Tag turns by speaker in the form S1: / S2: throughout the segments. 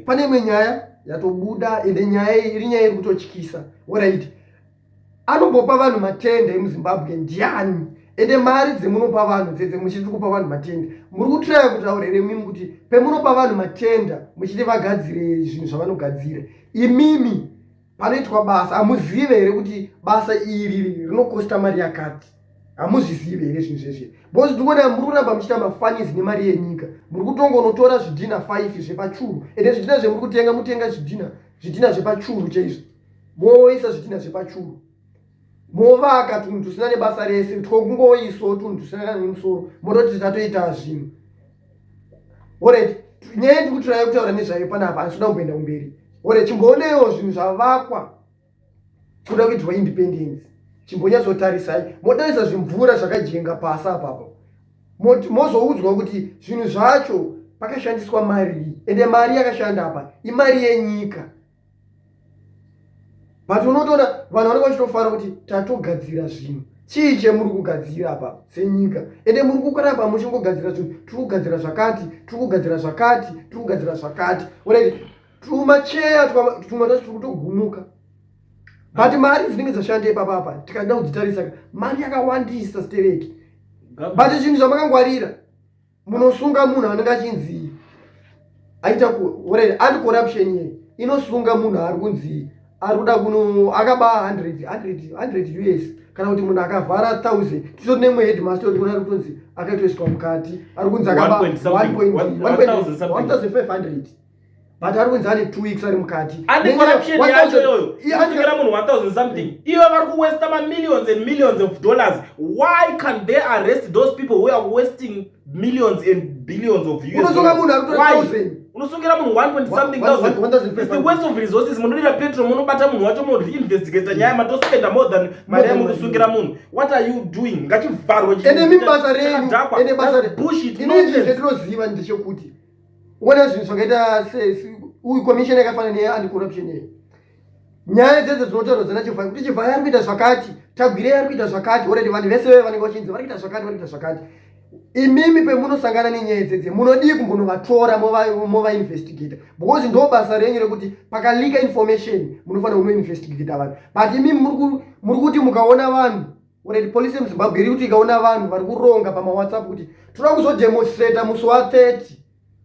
S1: pane imwe nyaya yatobuda ende nyaya iyi iri nyaya iri kutotyisa orit anombopa vanhu matende emuzimbabwe ndiani ende mari dzemunopa vanhu dzedze muchiti kupa vanhu matenda muri kutraya kutaura here imimi kuti pemunopa vanhu matenda muchiti vagadzire zvinhu zvavanogadzira imimi panoitwa basa hamuzive here kuti basa iri rinokosta mari yakati hamuzvizive here zvinhu zveshe bcause ndikuona muri kuramba muchiita mafanis nemari yenyika muri kutonga unotora zvidhina five zvepachuru ende zvidhina zvemuri kutenga mutenga zvidhina zvidhina zvepachuru chaizvo moisa zvidhina zvepachuru movaka tunhu tusina nebasa rese twokungoiso tunhu tusina kana nemusoro mototi tatoita zvinhu oret nyaya yekuti raive kutaura nezvayo panapa handisida kumboenda kumberi ore chimboonewo zvinhu zvavakwa kuda kuitwa independence chimbonyatsotarisai motarisa zvimvura zvakajenga pasi apapo mozoudzwa kuti zvinhu zvacho pakashandiswa marii ende mari yakashanda apa imari yenyika but unotoona vanhu vanenge vachitofara kuti tatogadzira zvinhu chii chemuri kugadzira apa senyika ende muri kukaramba muchingogadzira zvinhu tiri kugadzira zvakati tiri kugadzira zvakati tiri kugadzira zvakati unaiti tumacheya tumwe tacho tiri kutogumuka but mari dzinenge dzashanda ipapa apa tikada kudzitarisa mari yakawandisa stereki but zvinhu zvamakangwarira munosunga munhu anenge achinzi aita kuhorera anti corruption ye inosunga munhu ari kunzi ari kuda kuno akaba 100 us kana kuti munhu akavhara 1000 titori nemwe headmaster oti kunari kutonzi akaitoiswa mukati ari kunzi akaba 1500 but ari kunzi ane two weeks ari mukati ane corruption
S2: yacho iyoyo inosvikira munhu 1000 something mm. ivo vari kuwesta mamillions and millions of dollars why can they arrest those people who are wasting millions and billions of unosunga munhu ari kutora thousand unosungira munhu 1 point something thousand is the waste of resources munodira petrol munobata munhu wacho moinvestigata nyaya matospenda more than mari yamukusungira munhu what are you doing ngachivharwe ende mibasa renyu ende
S1: basa rebushit
S2: inoizvezvetinoziva
S1: ndechekuti uone zvinhu zvakaita uyu commission yakafanana neanti corruption yeyo nyaya dzedze dzinotaurwa dzana chivhaya kuti chivhaya ari kuita zvakati tagwirei ari kuita zvakati oredi vanhu vese veve vanenge vachinzi vari kuita zvakati vari kuita zvakati imimi pemunosangana nenyaya idzedze munodii kumbonovatora movainvestigata because ndo basa renyu rekuti pakalika information munofanira kunoinvestigata vanhu but imimi muri kuti mukaona vanhu Already police yemuzimbabwe iri kuti ikaona vanhu vari kuronga pamawhatsapp kuti tinoda kuzodemonstrata musi wa 30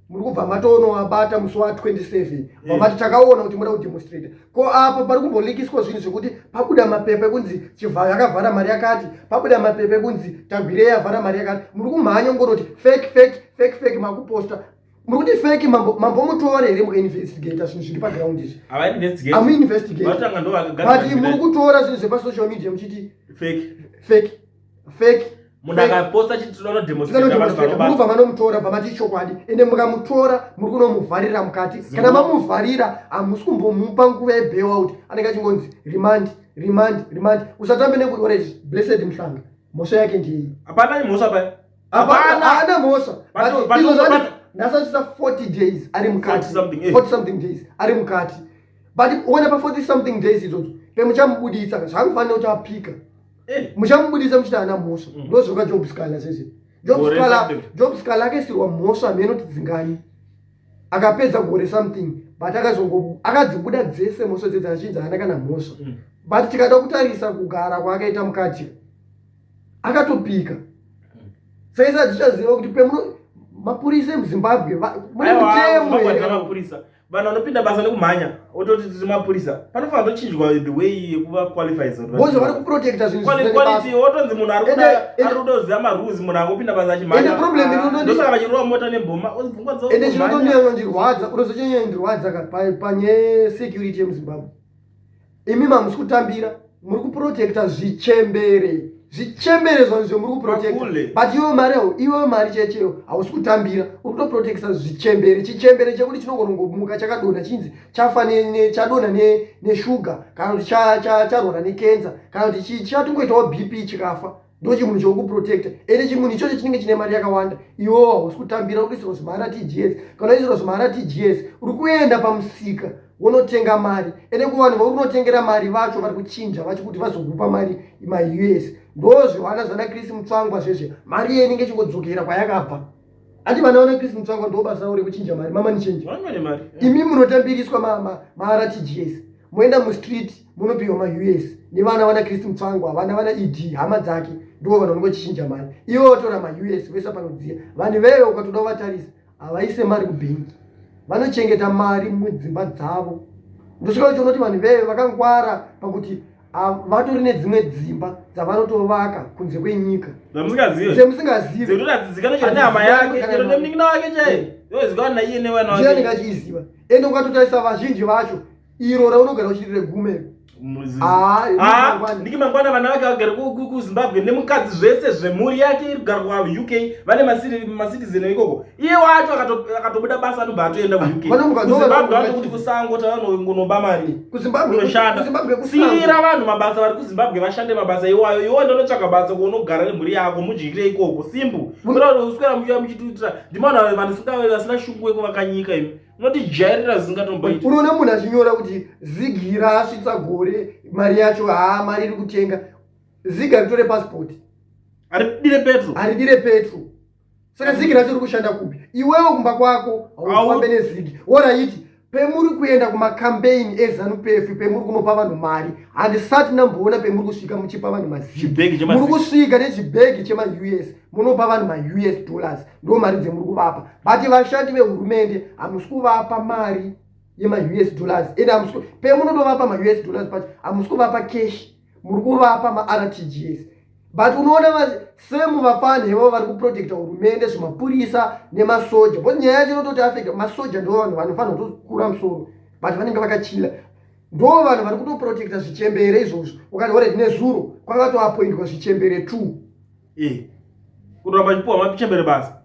S1: muri kubva matoonoabata musi wa 27 vamati mm. takaona kuti moda kudemonstrata ko apo pari kumbolikiswa zvinhu zvekuti pabuda mapepa ekunzi chivhayo akavhara mari yakati pabuda mapepa ekunzi tagwirei avhara mari yakati muri kumhanya ngoroti fake fake fake fake makuposta Murikuti fake mambo mambo mutora here mu investigator zvinhu zviri pa ground izvi. Ava investigate. Amu investigate. Vatanga ndo vakagara. But muri kutora zvinhu zvepa social media muchiti fake. Fake. Fake. Munhu akaposta
S2: chiti tinono demonstrate vanhu varobata. Mubva manomutora bva
S1: mati chokwadi ende mukamutora muri kunomuvharira mukati. Kana mamuvharira hamusi kumbomupa nguva ye bail out anenge achingonzi remand remand remand usatambe nekuti ora izvi blessed mhlanga mhosva yake ndiyei. Hapana mhosva paya.
S2: haana
S1: mhosva ndasatisa 40 days ari mukati 40 eh. something days ari mukati but uone pa 40 something days idzodzo pemuchamubudisa zvakufanira kuti apika eh. muchamubudisa muchiti haana mhosva mm. ndozvoka job scala sese job scala akaisirwa mhosva hameno tidzingani akapedza gore something but akazongo akadzibuda dzese mhosva dzedzi achinzi haana kana mhosva mm. but tikada kutarisa kugara kwaakaita mukati akatopika saisa hatichaziva kuti pemuno mapurisa emuzimbabwe mune mutemo vanhu vanopinda
S2: basa nekumhanya ototi tiri mapurisa panofanira tochinjwa the way yekuva qualifies bozo vari kuprotecta
S1: zvinhuquality wotonzi
S2: munhu ari kuda kuziva marules munhu angopinda basa achimhanyandosaka vachirova mota nebhoma ende chinotondiyanondirwadza
S1: unozochanyanya ndirwadza panyaya security yemuzimbabwe imi mamusi kutambira muri kuprotecta zvichembere zvichembere zvanizvo muri kuprotecta but iwe mari yao iwe mari checheyo hausi kutambira uri kutoprotecta zvichembere chichembere chekuti chinongonongomuka chakadona chinzi chafa chadona neshuga kana kuti charwara nekenza kana kuti chatongoitawo bp chikafa ndo chimunhu chokuprotecta ende chimunhu ichocho chinenge chine mari yakawanda iwo hausi kutambira ukuisirwa zvimahara tgs kana uisirwa zvimahara tgs uri kuenda pamusika wonotenga mari ende kuvanhu vauri kunotengera mari vacho vari kuchinja vacho kuti vazokupa mari maus ndo zvivana zvana chris mutsvangwa zvezve mari iye inenge chingodzokera kwayakabva Ati vana wana Chris Mutsvangwa ndo basa ravo rekuchinja mari mama ni change. Vana mari. Imi munotambiriswa ma ma, ma RTGS. Moenda mu street munopiwa ma US. Ni vana wana Chris Mutsvangwa, vana wana ED hama dzake ndo vana vanongo chinja mari. Iwo tora ma US vesa panodziya. Vanhu veve ukatoda vatarisa havaise mari ku bank. Vanochengeta mari mudzimba dzavo. Ndosvika kuti unoti vanhu veve vakangwara pakuti vatori nedzimwe dzimba dzavanotovaka kunze kwenyika semusingazivamusingazivaakachiziva
S2: ende ukatotarisa
S1: vazhinji vacho iro raunogara uchiri regumero
S2: ndiki mangwana vana vake vagara kuzimbabwe nemukadzi zvese zvemhuri yake iri kugara kuuk vane macitizen ikoko iye wacho akatobuda basa anobva atoenda kuzimbabwe atokuti kusango taanongonoba mari kunoshanda siira vanhu mabasa vari kuzimbabwe vashande mabasa iwayo iwo ndonotsvaga basa kuonogara nemhuri yako mudyikire ikoko simbu kutaura uswera muchiva muchitiitira ndimanhu vanhu singave vasina shungu yekuvakanyika imi unotijairira zvisingatomboiti unoona munhu achinyora
S1: kuti zigira asvitsa gore mari yacho haa mari iri kutenga ziga ritore pasipoti aridire
S2: petro aridire petro saka zigi
S1: racho rikushanda kupi iwewo kumba kwako haufambe nezigi woraiti pemuri kuenda kumakampeini ezanu pefi pemuri kunopa vanhu mari handisati namboona pemuri kusvika muchipa vanhu mazigi muri kusvika nechibhegi chemaus munopa vanhu maus dollars ndo mari dzemuri kuvapa but vashandi vehurumende hamusi kuvapa mari yemaus dollars ende hamusi pemunotovapa maus dollars pacho hamusi kuvapa keshi muri kuvapa martgs but unoona vasemu vapani ivo vari kuprotecta hurumende zvemapurisa nemasoja bcause nyaya yacho inototi afecta masoja ndo vanhu vanofanira kutokura musoro but vanenge vakachila ndo vanhu vari kutoprotecta zvichembere izvozvo ukati ore nezuro kwakatoapoindwa zvichembere two eh kuramba
S2: chipuwa mapichembere basa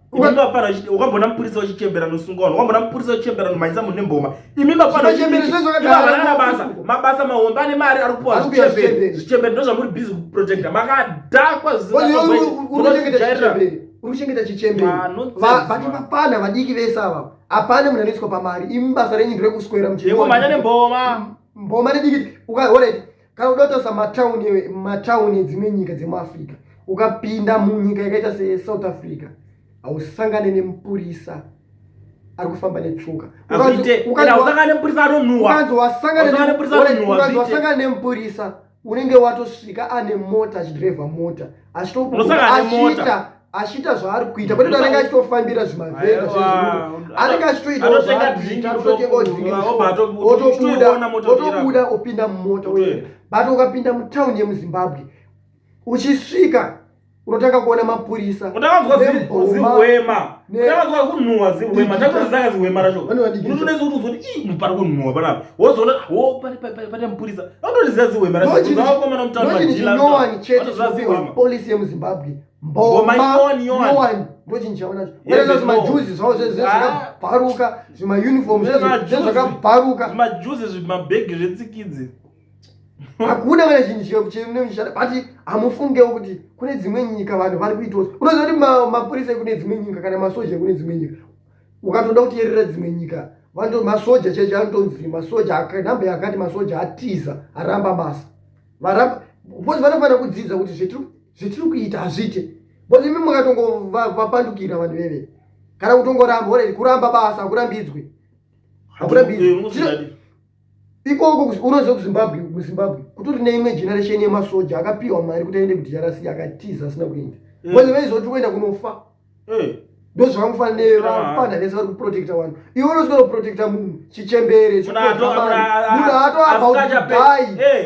S2: ukambona mupurisa uchichembera nosungwa vanhu ukambona mupurisa uchichembera nomhanyisa munhu nemboma imi mafanaaana basa mabasa mahombe ane mari ari kupuwa zvichembere ndo zvamuri busy kuprojecta makadhakwa zvisingaojairira
S1: urikuchengeta chichembere vati vapana vadiki vese ava apane munhu anoiswa pamari imi basa renyu ndirekuswera mchemanya nemboma
S2: mboma nedikiti
S1: ukaoret kana udotosa matauni matauni edzimwe nyika dzemuafrica ukapinda munyika yakaita sesouth africa hausangane nemupurisa ari kufamba netsuka ukanzowasangana nemupurisa unenge watosvika ane mota achidrevha mota achitoachiita achiita zvaari kuita kwete anenge achitofambira zvimavheta anenge achitoitaotobuda opinda mumota but ukapinda mutauni yemuzimbabwe uchisvika unotanga kuona mapurisa polisi yemuzimbabwe mboma iwani ndochinhu chaonacho unaita kuti majuzi zvavo zvakabharuka ah. zvimauniform zvakabharuka zvimajuzi
S2: zvimabhegi zvetsikidzi
S1: hakuna kana chinhu chinochishata but hamufungewo kuti kune dzimwe nyika vanhu vari kuitawo unoziva kuti mapurisa ekune dzimwe nyika kana masoja ekune dzimwe nyika ukatoda kutiyerera dzimwe nyika vanoto masoja chaicho anotonzi masoja namba yakati masoja atiza aramba basa varamba bcause vanofanira kudzidza kuti zvetiri zvetiri kuita hazviite bcause imi makatongovapandukira vanhu veve kana kutongoramba orei kuramba basa hakurambidzwe hakurambidzwe ikoko unoziva kuzimbabwe muzimbabwe kutori neimwe generation yemasoja akapiwa mari kuti aende kudrc akatiza asina kuenda bcause vaizoti kuenda kunofa eh. ndozvamufanira kufana vese vari kuprotecta vanhu iwe unosvika kuprotecta munhu chichembere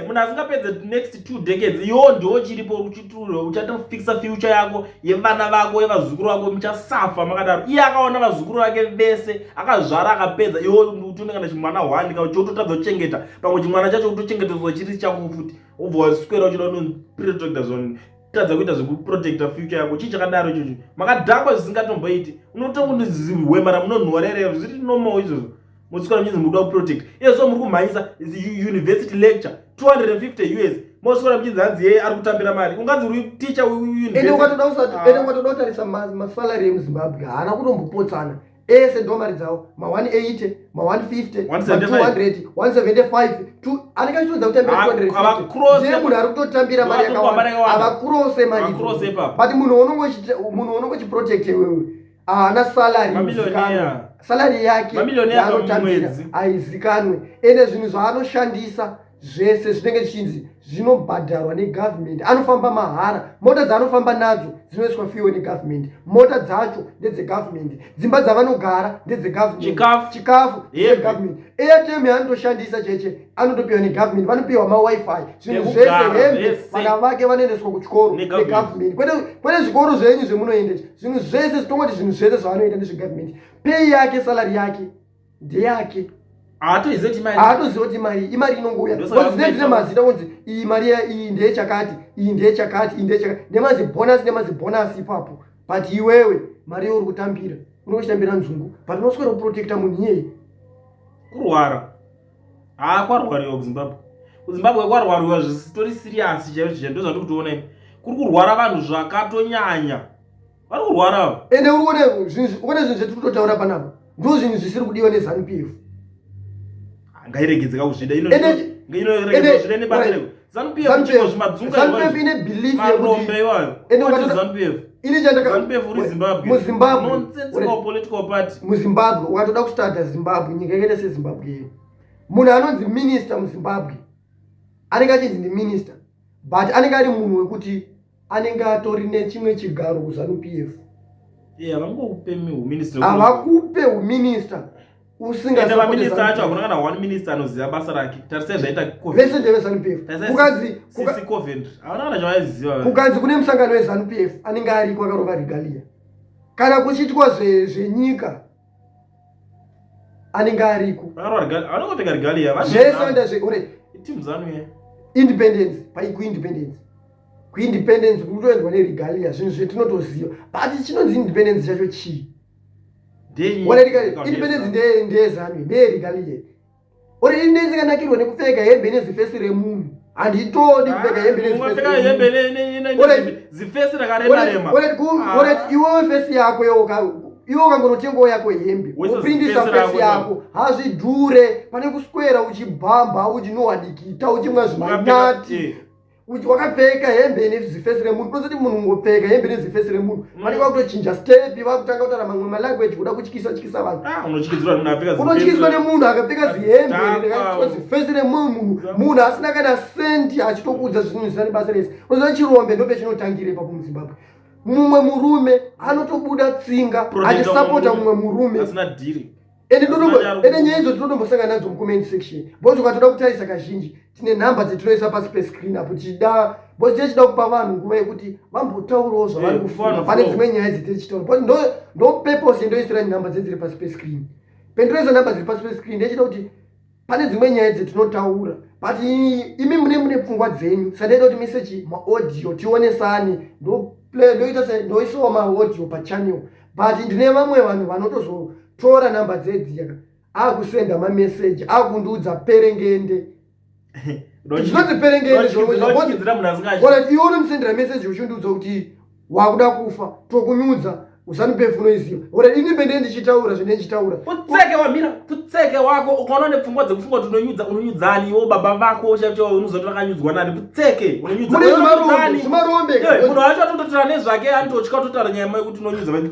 S2: munhu asingapedze next two decades iwo ndiwo chiripo uchiture uchatofixa future yako yevana vako yevazukuru vako muchasafa makadaro iye akaona vazukuru vake vese akazvara akapedza iwo utonengana chimwana hwani ka chototadza kuchengeta pamwe chimwana chacho kutochengetezwa chiri chako futi ubva wasikwera uchida unoprotecta zvoni tadza kuita zvekuprotecta future yako chii chakadaro ichocho makadhakwa zvisingatomboiti unotongondiziwema ramunonhuwa rerero zviri normal izvozvo mosikora muchinzi muri kuda kuprotect iyezvo muri kumhanyisa university lecture 250 us mosikora muchinzi hanzi yeye ari kutambira mari unganzi uri ticha uukatoda
S1: ah. kutarisa masalary emuzimbabwe haana kutombopotsana ese ndomari dzavo ma 180 ma 150 ma 200 175 anenge achitoudza kutambira 250 munhu ari kutotambira mari yakawanda havakurose mari but munhu unongo chiprotect iwewe haana salary
S2: salary yake
S1: yaanotambira haizikanwe ende zvinhu zvaanoshandisa zvese zvinenge zvichinzi zvinobhadharwa negovernment anofamba mahara mota dzaanofamba nadzo dzinoiswa fiwe negovernment mota dzacho ndedzegovernment dzimba dzavanogara ndedzegovernmentchikafu government airtm yaanotoshandisa cheche anotopiwa negovernment vanopiwa mawifi zvinhu zvese hembe vana vake vanoendeswa kuchikoro negovernment kwete zvikoro zvenyu zvemunoendesa zvinhu zvese zvitongoti zvinhu zvese zvaanoita ndezvegovernment pei yake salary yake ndeyake haatoziva kuti mari imari inongouya dzine dzine mazita kunzi iyi mari iyi ndeye chakati iyi ndeye chakati iyi ndeye chakati nemazibhonasi nemazibhonasi ipapo but iwewe mari iyo uri kutambira unenge uchitambira nzungu but unoswera kuprotecta munhu iyeye kurwara
S2: haa kwarwariwa kuzimbabwe kuzimbabwe kwarwariwa zvisitori siriyasi chaizvo chaizvo ndozvandiri kutoona kuri kurwara vanhu zvakatonyanya vari kurwara avo ende uri kuona
S1: ukone zvinhu zvetiri kutotaura panapa ndo zvinhu zvisiri kudiwa nezanu p f ngairegedzeka
S2: kuzvida muzimbabwe ukatoda
S1: kustada zimbabwe nyika yakaita sezimbabwe yeyo munhu anonzi minista muzimbabwe anenge achinzi ndiminista but anenge ari munhu wekuti anenge atori nechimwe chigaro kuzanu
S2: p f havakupe
S1: huminista usingaminister
S2: acho hakuna kana one minister anoziva basa rake tarisai zvaitavese ndevezanu p fkukanzi kune musangano
S1: wezanu p f anenge ariko akarova regalia kana kuchiitwa zvenyika anenge ariko
S2: zvese
S1: ndazveure
S2: independence
S1: paikuindependence kuindependence kutoendwa neregalia zvinhu zvetinotoziva but chinonzi independence chacho chii independence ndeyezanu ndeyeregalia or independence ikanakirwa nekupfeka hembe nezifesi remunhu handitodi kupfeka hembezifesi
S2: rakaremaremat iwewe
S1: fesi yako iwe ukangonotengawo yako hembe uprindisa fesi yako hazvidhure pane kuswera uchibhamba uchinowadikita uchimwa zvimanati wakapfeka hembe ine zifesi remunhu tozoti munhu ngopfeka hembe ine zifesi remunhu mm. vanenge vakutochinja stepi vakutanga kutaura mamwe malanguage kuda kutyisa tyisa vanhu ah, unotyiswa nemunhu akapfeka zihembe zifesi remunhu munhu munhu asina kana sendi achitokuudza zvinhu zvisina nebasa rese unoziva chirombe ndope chinotangire ipapo muzimbabwe mumwe murume anotobuda tsinga achisapota mumwe murume
S2: ende ende
S1: nyaya idzo tinotombosangana nadzo mucomment section bos ukatoda kutarisa kazhinji tine nhamba dzetinoisa pasi pescreen apo tichida bos tichida kupa vanhu nguva yekuti vambotaurawo zvavari eh, kufunga pane dzimwe nyaya dzetichitaura bcause ndo ndo purpose yendoisira nhamba dzedziri pasi pescreen pendinoisa nhamba dziri pasi pescreen ndechida kuti pane dzimwe nyaya dzetinotaura but imi mune mune pfungwa dzenyu sandaita kuti mise chi maaudio tionesane ndoplay ndoita se ndoisawo maaudio pachannel but ndine vamwe vanhu vanotozotora number dzedziya akusenda mameseji akundiudza perengende zvinonzi perengende iwe unomsendera meseji uchindiudza kuti wakuda kufa tokunyudza usanipef unoiziva ora ini bende ndichitaura zvine ndichitaura putseke wamira
S2: putseke wako ukaona nepfungwa dzekufungwa kuti unonyudza unonyudzani iwo baba vako chaicho unozoti vakanyudzwa nani putseke unonyudzazimarombe
S1: munhu wacho
S2: atototora nezvake anitotya kutotara nyaya mai kuti unonyudza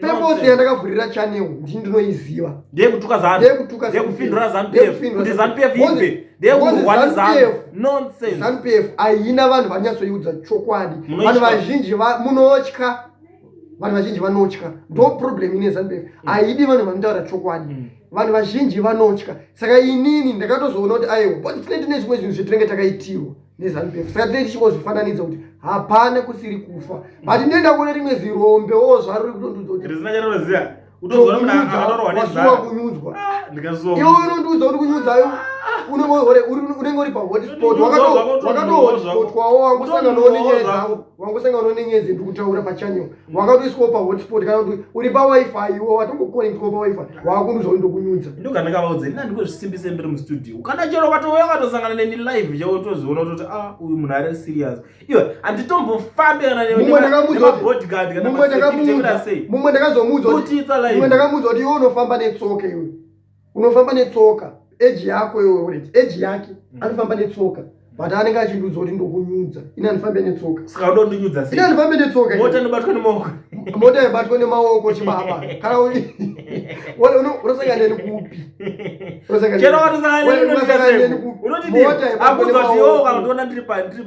S1: Purpose yandakavhurira channel ndini ndinoiziva. Ndiye kutuka zanu. Ndiye kutuka zanu. Ndiye kufindura
S2: zanu PF. Kuti zanu PF ife. Ndiye kurwara zanu. Nonsense. Zanu PF haina
S1: vanhu vanyatsoiudza chokwadi. Vanhu vazhinji munotya. Vanhu vazhinji vanotya. Ndo problem ine zanu PF. Mm. Haidi vanhu vanotaura chokwadi. Mm. Vanhu vazhinji vanotya. Saka inini ndakatozoona kuti aiwa. But tine tine zvimwe zvinhu zvetinenge takaitirwa. nezanu pf saka tinenge tichingozvifananidza kuti hapana kusiri kufa but ndenda kuona rimwe zirombe wo zvaruri kutondiudza
S2: wasuwa
S1: kunyudzwa ah, iwe
S2: unondiudza
S1: kuti
S2: kunyudzayo ah.
S1: unenge uri pahotspot wakatohotspotwawo wangosanganawo nenyaya dzavo wangosanganawo nenyaya dzendikutaura pachanyoka wakatoiswawo pahotspot kana kuti uri pawifi iwo watongokonectwa pawifi wakunzwa ndokunyudza ndokandakavaudza ini
S2: andingozvisimbise ndiri mustudio kana chero katouya katosangana neni live chao toziona kutoti a ah, uyu munhu ari serious iwe handitombofambe
S1: kananemabodyguardmumwe ndakamuudza kuti iwe unofamba netsoka iwe unofamba netsoka eji yako iwe uriti eji yake mm. anofamba netsoka but anenge achindiudza kuti ndokunyudza ini andifambe netsoka saka ndondinyudza sei ini
S2: andifambe netsoka
S1: mota inobatwa nemaoko
S2: mota yobatwa
S1: nemaoko chibaba kana unosangana neni kupi
S2: unotiakuzotiyokandiona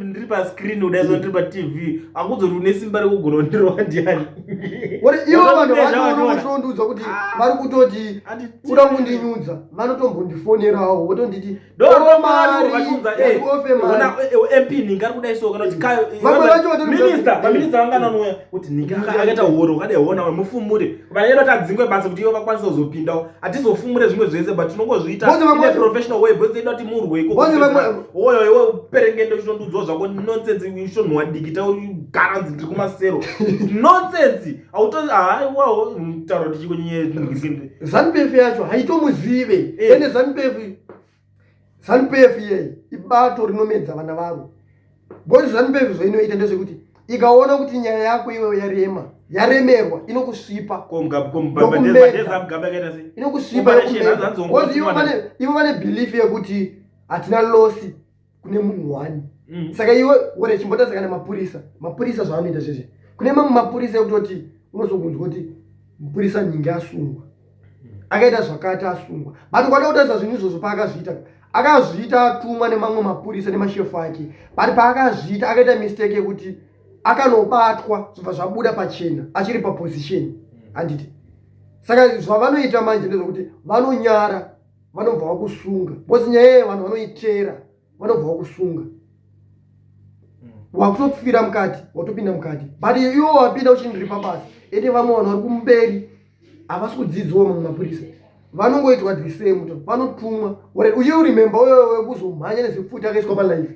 S2: ndiri pascreen udaizondiri patv akuzotiune simba rekugona ndirowa ndiani uri ivo
S1: vanhu vanoshondudzwa kuti ah. vari kutoti kuda kundinyudza vanotombondifonerawo votonditi
S2: akaita horo ukadai hona mufumure vanaedo tadzingwe basa kuti ivo vakwanisa kuzopindawo hatizofumure zvimwe zvese but tinongozviita professional way because inoda kuti murwe ikowoyo iwe uperengende uchinondiudzwa zvako nonsense uchinonhuwa dikita ugara nzi ndiri kumasero nonsense autoaiwawo mutauro tichiko nyaya zanupf yacho
S1: haitomuzive eh. ende zanupf zanupf iyeyi ibato rinomedza vana varo bcause zanupf zvainoita ndezvekuti ikaona kuti nyaya yako iweyo yarema yaremerwa inokusvipa inokusvipa ivo vane belief yekuti hatina losi kune munhu one mm. saka iwe ore chimbota saka nemapurisa mapurisa zvaanoita zvizvi kune mamwe mapurisa ekutoti unozokunzwa kuti mupurisa nyingi asungwa akaita zvakati asungwa but kwada kutarisa zvinhu izvozvo paakazviita akazviita atumwa nemamwe mapurisa nemashefu ake but paakazviita akaita mistake yekuti akanobatwa zvobva zvabuda pachena achiri paposition handiti saka zvavanoita manje ndezvokuti vanonyara vanobva vakusunga bcause nyaya yeye vanhu vanoitera vanobva vakusunga hmm. wakutopfira mukati watopinda mukati but iwo wapinda uchindiripa basa ete vamwe vanhu vari kumberi havasi kudzidziwa mamwe mapurisa vanongoitwa the same vanotumwa uye urememba uyo wekuzomhanya nezipfuti akaiswa palife